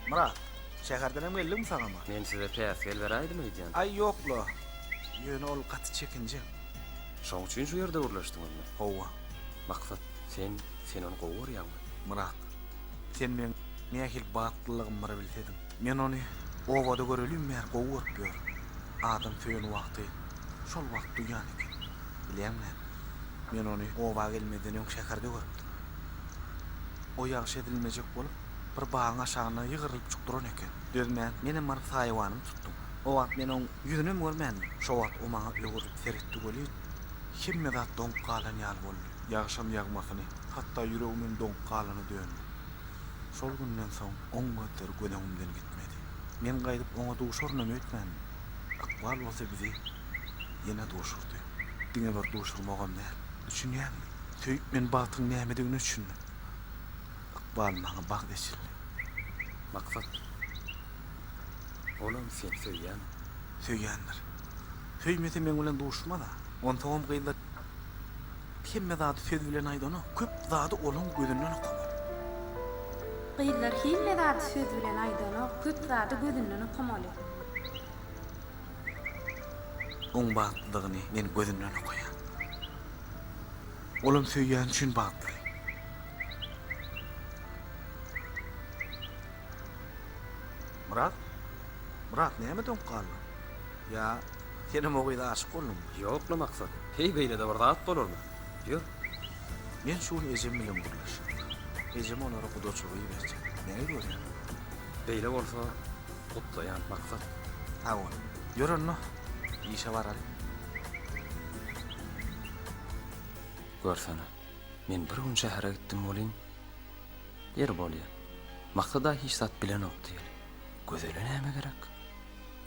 Myrat, şäherdenem geldiňmi sagama? Men size päsgel beräýdim öýdýän. Aý, ýok-la. Ýöne ol gaty çekinjeň. Şoň üçin şu ýerde gürleşdiňizmi? Hawa. Maksat, sen, sen ony gowy görýäňmi? Myrat, sen meň nähili bagtlylygym bir bilsediň. Men ony obada görelim bäri gowy görüp ýörün. Adam söýen wagty şol wagt duýýan eken. Bilýäňmi näme? Men ony oba gelmezden öň şäherde görüpdim. O ýagşy edilmejek bolup, bir bagyň aşagynda ýygrylyp çyk duran eken. Dözmän, menem baryp saýawanymy tutdum. O wagt men oň ýüzünem görmändim. Şo wagt o maňa öwrülip seretdi welin, hemme zat doňup galan ýaly boldy. Ýagşam ýagmasyny, hatda ýüregimem doňup galana döndi. Şol günden soň oň gözleri göz öňümden gitmedi. Men gaýdyp oňa duşarynam öýtmändim. Ykbal bolsa bizi ýene duşurdy. Diňe bir duşurmagam däl. Düşünýäňmi? Söýüp men bagtyň nämedigine düşündim. Ykbal maňa bagt eçildi. Maksat. Olam seni söýýän. Söýýändir. Söýmese meň bilen duşmaz-a. Onsoňam gyzlar hemme zady söz bilen aýdanok. Köp zady olaň gözünden okamak. Gyzlar hemme zady söz bilen aýdanok. Köp zady gözünden okamaly. Oň bagtlydygyny men gözünden okaýan. Olam söýýäni üçin bagtly. Myrat? Myrat, näme doňup galdyň? Ýa, senem o gyza aşyk bolduňmy? Ýok-la, Maksat. Heý, beýle-de bir zat bolarmy? Ýör. Men şu gün ejem bilen gürleşjek. Ejem olara gudaçylyk iberjek. Näme görýäň? Beýle bolsa, gutlaýan, Maksat. Sag bol. Ýör onda. Işe baraly. Görsene, men bir gün şähere gitdim welin, ýeri bolýa, Maksada hiç zat bilenok diýeli. Gözele näme gerek?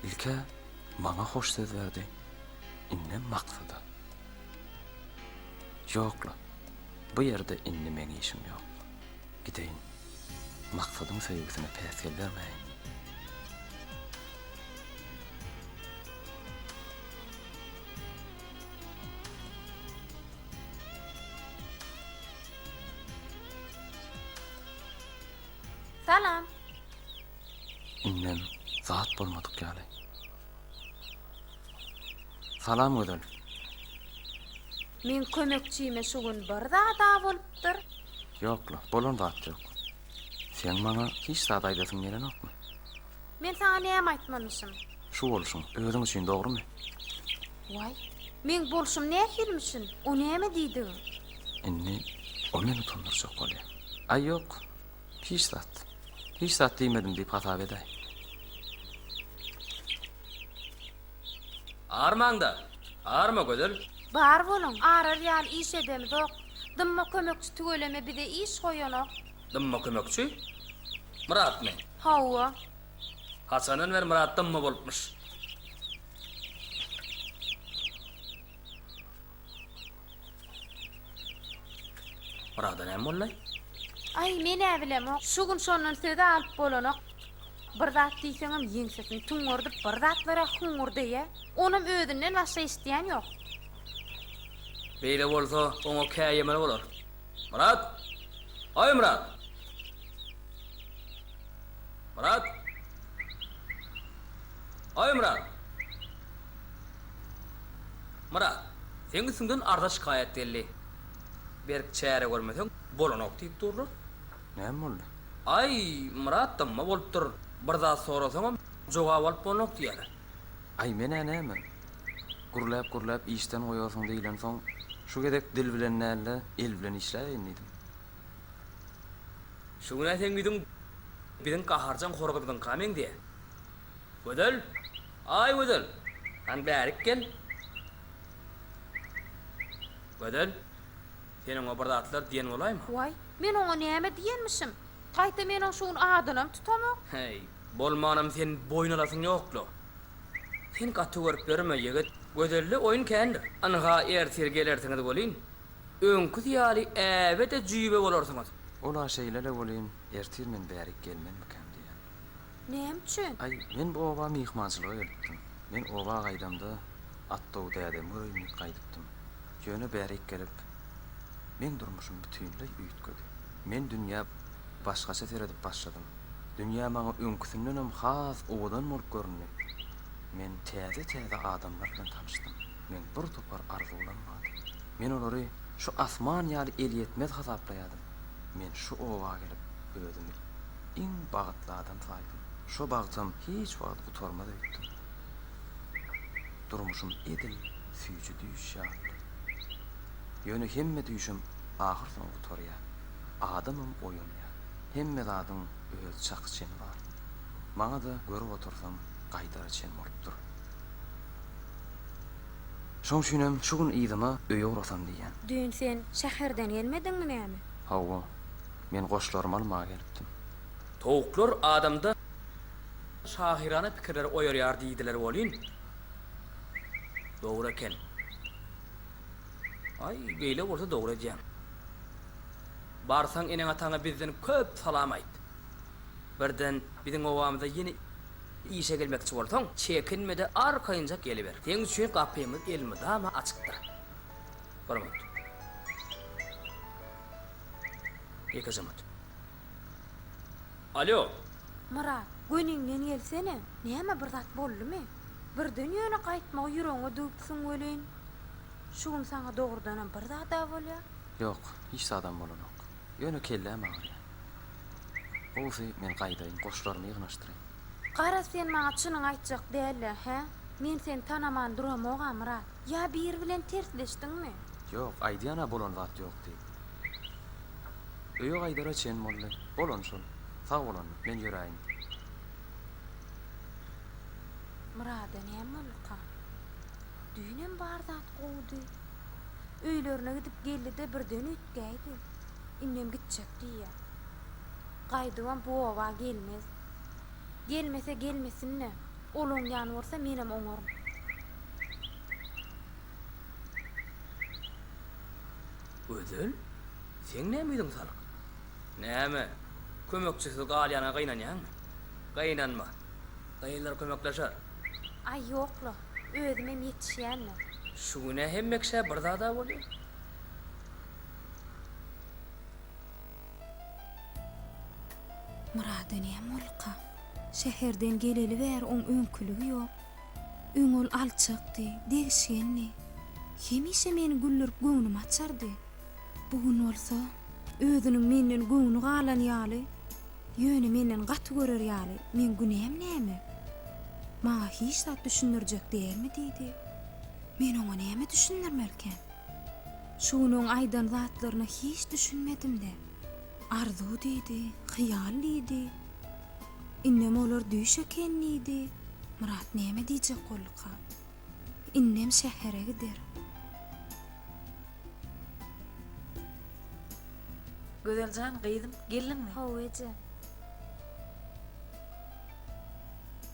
Ilk-ä maňa hoş söz berdi, indem Maksada. Ýok-la, bu ýerde indi meň işim ýok. Gideýin. Maksadyň söýgüsine päsgel bermäýin. Salam. Indem zat bolmadyk ýaly. Salam Gözel. Meň kömekçime şu gün bir zad-a bolupdyr. Ýok, Lok, bolan zat ýok. Seň maňa hiç zat aýdasyň gelenokmy? Men saňa näme aýtmanyşym? Şu bolşuň, özüň üçin, dogrumy? Waý, meň bolşum nähilm üçin? O näme diýdigiň? Indi o meni utandyrjak bolýar. Aý, ýok, hiç zat. Hiç zat diýmedim diýip hasap edäý. Armaňda, arma Gözel. Bar boluň, arar ýaly iş edemizok. Dymma kömekçi tüweleme bize iş goýanok. Dymma kömekçi? Myratmy? Hawa. Haçandan bäri Myrat dymma bolupmyş? Oraga-da näme bollaý? Aý, men-ä bilemok. Şu gün şondan söz-ä alyp bolanok. Bir zat diýseňem ýeňsesini tuňňurdyp bir zatlar-a huňňurdaýýa. Onam özünden başga eşidýän ýok. Beýle bolsa, oňa käýemeli bolar. Myrat! Aý, Myrat! Myrat! Aý, Myrat! Myrat, seň üstüňden arza-şikaýat geldi. Berk çäre görmeseň, bolanok diýip durlar. Näme boldy? Aý, Myrat dymma bolupdyr. Bir zat sorasaňam, jogap alyp bolnok diýýärler. Aý, men-ä näme? Gürläp-gürläp işden goýarsyň diýlensoň, şu gezek dil bilen däl-de, el bilen işläýeýin diýdim. Şu gün-ä seň ýüzüň biziň gaharjaň horgyzymyzyňka meňzeýär. Gözel! Aý, Gözel! Hany bärik gel! Gözel, sen oňa bir zatlar diýen bolaýma. Waý, men oňa näme diýenmişim? Gaýta men oň şu gün adynam tutamok. Heý, bolmanam sen boýun alasyň ýok-la. Sen gaty görüp ýörme, ýigit. Gözelde oýun kändir. Ynha, ertir gelersiňiz welin, öňküsi ýaly äbe-de jüýbe bolarsyňyz. Ol-a şeýle-le welin, ertir men bärik gelmezmikän diýýän. Näme üçin? Aý, men bu oba myhmançylyga gelipdim. Men oba gaýdamda Atdow dädemi göreýin diýip gaýdypdym. Ýöne bärik gelip, meň durmuşym bütinleý üýtgedi. Men dünýä başgaça seredip başladym. Dünýä maňa öňküsindenem has owadan bolup göründi. Men täze-täze adamlar bilen tanyşdym. Meň bir topar arzuwlam bardy. Men olary şu asman ýaly elýetmez hasaplaýardym. Men şu oba gelip özümi iň bagtly adam saýdym. Şo bagtym hiç wagt gutarmaz öýtdüm. Durmuşym edil süýji düýş ýalydy. Ýöne hemme düýşem ahyrsoňy gutarýar. Adamam oýanýar. Hemme zadyň öz çaky çeni bar. Maňa-da görüp otursam gaýdara çen bolup dur. Şoň üçinem şu gün yzyma öýe ugrasam diýýän. Düýn sen şäherden gelmediňmi näme? Hawa. Men goşlarymy almaga gelipdim. Towuklar adamda şahyrana pikirleri oýarýar diýdiler welin, dogry eken. Aý, beýle bolsa dogry edýäň. Barsaň eneň-ataňa bizden köp salam aýt. Birden biziň obamyza ýene işe gelmekçi bolsaň, çekinme-de arkaýynjak geliber. Seň üçin gapymyz elmydama açykdyr. Hormat. Ýeke jynyt. Alýo! Myrat, göniňden gelsene! Näme, bir zat boldumy? Birden ýöne gaýtmagy ýüregiňe düwüpsiň welin, şu gün saňa dogrudanam bir zad-a bolýa? Ýok, hiç zadam bolanok. Ýöne kelläm agyrýa. Gowusy, men gaýdaýyn, goşlarymy ýygnaşdyraýyn. Garaz, sen maňa çynyňy aýtjak däl-le, hä? Men seni tanaman duramog-a, Myrat. Ýa biri bilen tersleşdiňmi? Ýok, aýdýan-a bolan zat ýok diýip. Öýe gaýdara çen boldy. Bolan şol. Sag bol onda, men ýöräýin. Myrada näme bolduka? Düýnem bar zat gowudy. Öýlerine gidip geldi-de birden üýtgäýdi. Indem gitjek diýýä. Gaýdybam bu oba gelmez. Gelmese gelmesin-le. Ol oňýan bolsa menem oňaryn. Gözel, seň näme ýüzüň salyk? Näme, kömekçisiz galýana gynanýaňmy? Gynanma. Gyzlar kömekleşer. Aý, ýok-la, özümem ýetişýändim. Şu gün-ä hemmekşä bir zad-a bolýar. Myrada näme bolupka? Şäherden geleli bäri oň öňküligi ýok. Öň ol alçakdy, degişgendi. Hemişe meni güldürip göwnümi açardy. Bu gün bolsa, özüniň menden göwni galan ýaly, ýöne menden gaty görer ýaly, Meň günäm näme? Maňa hiç zat düşündirjek dälmi? diýdi. Men oňa näme düşündirmelikäm? Şu gün oň aýdan zatlaryna hiç düşünmedim-de. Arzuw diýdi, hyýal diýdi. Indem olar düýş eken diýdi. Myrat näme diýjek bolduka? Indem şähere gider. Gözel jan, gyzym, geldiňmi? Hawa, eje.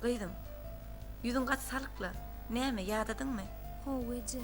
Gyzym, ýüzüň gaty salyk-la. Näme, ýadadyňmy? Hawa, eje.